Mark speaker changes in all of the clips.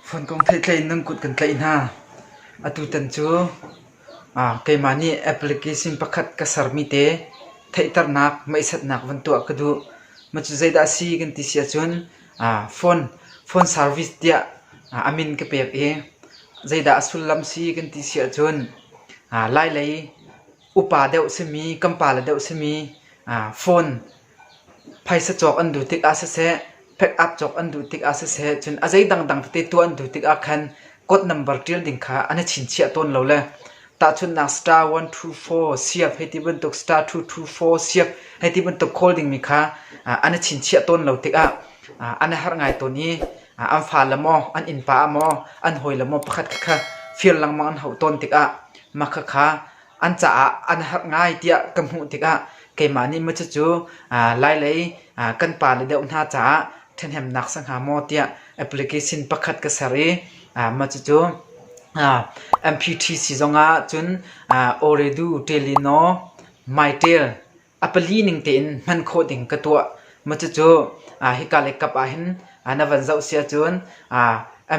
Speaker 1: Funkung theih tlei in nan kut kan tlaih hna. Atutan cu keimah nih application pakhat ka sermi te theihternak, meihsatnak van tuah ka duh. Cucu zeidah a si kan ti si ahcun phone service tiah a min ka pek i zeidah a sullam si kan ti si ahcun Lai lei upa deuh simi, kan pale deuh simi phone Phaisa cawk an duh tikah siseh, pack-up cawk an duh tikah siseh, cun a zei dangdang tete tuah an duh tikah khan code number ṭial ding kha an i chinchiah tawn lo le tahchunhnak star one two four siap hei ti bantuk star two two four siap hei ti bantuk khawl dingmi kha an i chinchiah tawn lo tikah an i harh ngai tawn i an fale maw, an innpa maw, an hawile maw pakhat kha fir lengmang an hauh tawn tikah mah khakha an caah an har ngai tiah ka hmuh tikah keimah nih maw cucu lailei kan pa le deuh hna caah ṭhahnemnak si hnga maw tiah application pakhat ka ser i mah cucu MPTC zongah cun Oredu Ṭelino Mytel A pali ning tein hman khawh ding ka tuah. Cucu hika le kap ahhin na van zoh si ahcun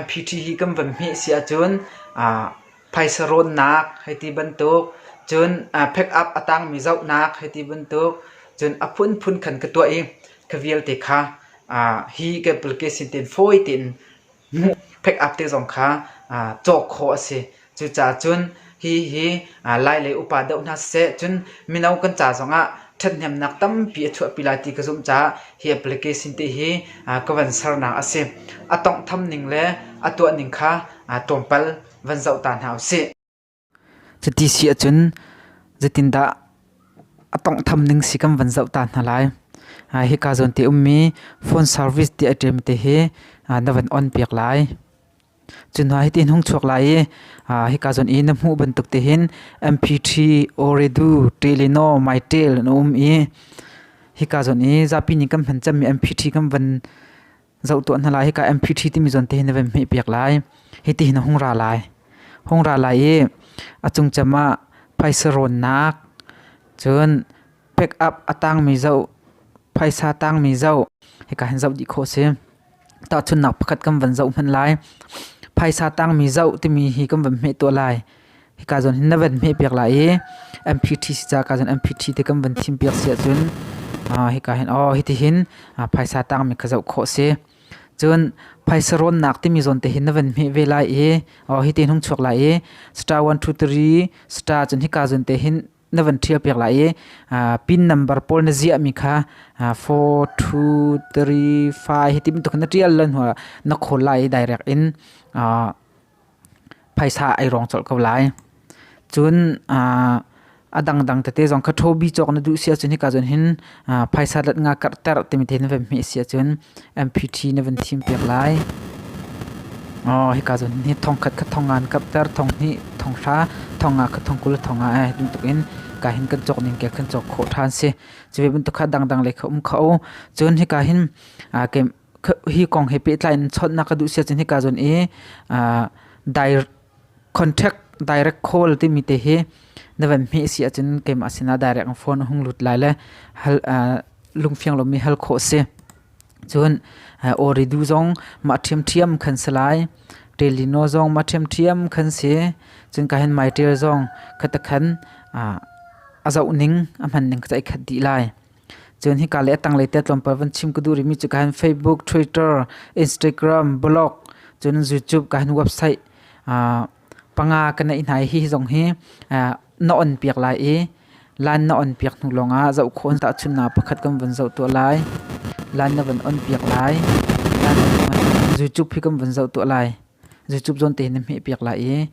Speaker 1: MPT hi kan van hmeh si ahcun phaisa rawnnak hei ti bantuk, cun pick up a tangmi zohnak hei ti bantuk, cun a phunphun khan ka tuah i ka vialte kha hi ka application tein fawi tein pick-up te zong kha cawk khawh a si. Cucaah cun hihi Lai lei upa doh hna siseh cun mino kan ca zongah ṭhathnemnak tampi a chuahpi lai ti ka zumh caah hi application te hi ka van sernak a si. A tonghtham ning le a tuah ning kha tlawmpal van zoh ta hna u sih. Cuti si ahcun zeitindah a tawnghtham ning si kan van zoh ta hna lai. Hika zawn te ummi phone service ti a ṭem te hi na van on piak lai. Cu hnuah hitin hung chuak lai i hika zawn i na hmuh bantuk te hin MP3, Ooredoo, Teleno, MyTel an um i hika zawn i zapi nih kan hman cemmi MP3 kan van Zoh tuah hna lai, hika MPT timi zawn te hin na van hmehpiak lai. Hiti hin a hung ra lai. Hung ra lai i a cungcem ah phaisa rawnnak, cun pek up a tangmi zoh, phaisa tangmi zoh, hika hin zoh dih khawh a si. Tahchunhnak pakhat kan van zoh hmanh lai. Phaisa tangmi zoh timi hi kan van hmeh tuah lai. Hika zawn hin na van hmehpiak lai i MPT si ca ka zawn MPT te kan van thim piak si ahcun hika hin aw hitihin phaisa tangmi ka zoh khawh si. Cun phaisa rawnnak timi zawn te hin na van hmeh ve lai i aw hiti hin hung chuak lai i star one two three star cun hika zawn te hin na van ṭhial piak lai i pin number pawl na ziahmi kha four two three five hi ti bantuk hin na ṭial lo hnuah na khawl lai i direct in Phaisa ei rawng colh ko lai. Cun aa a dangdang tete zong kha ṭhobi cawk na duh si ahcun hika cun hin aa phaisa lat nga karhter timi te in na van hmeh si ahcun MPT na van thim piak lai. Aw hika cun hi thongkhat kha thong nga an karhter, thong hnih, thong hra, thong nga kha thong kul le thong nga ai duh tuk in ka hin kan cawk ning kek kan cawk khawh ṭhan si. Cu ve bantuk kha dangdang lei kha um kho. Cun hika hin aa ke hi kong he pehtlai in chawtnak ka duh sia cun hika zon i uh, direct contract direct call timi te hi na van hme si acun keimah sinah direct phone hung lut lai le hal uh, lungfiang lomi hal kho si cun uh, oridu zong ma ṭhiam ṭhiam khan si lai telino zong ma ṭhiam ṭhiam khan si cun ka hin mai tel zong khata khan uh, azauh ning ahman ning ka cai khat di lai Cun hika le a tanglei te tlawmpal van chim ka duh rihmi cu ka hin Facebook, Twitter, Instagram, blog cun YouTube ka hin website uh, panga ka neih hna i hi zong hi uh, na on piak lai i lan na on piak hnu lawngah zoh khawh an tahchun na pakhat kan van zoh tuah lai lan na van on piak lai lan YouTube hi kan van zoh tuah lai Zucup zawn te na hmeh piak la i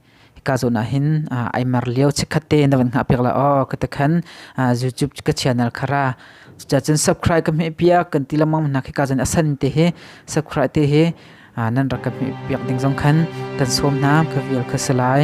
Speaker 1: ka zawn ah hin ai mar lio chikkhat te na van hngah piak la aw ka takhan zucup ka channel khara cucacun subscribe ka hmeh piak kan ti lamang hna khi ka zawn asan te hi subscribe te hi nan rak ka hmeh piak ding zong khan kan som hna ka vial kha salai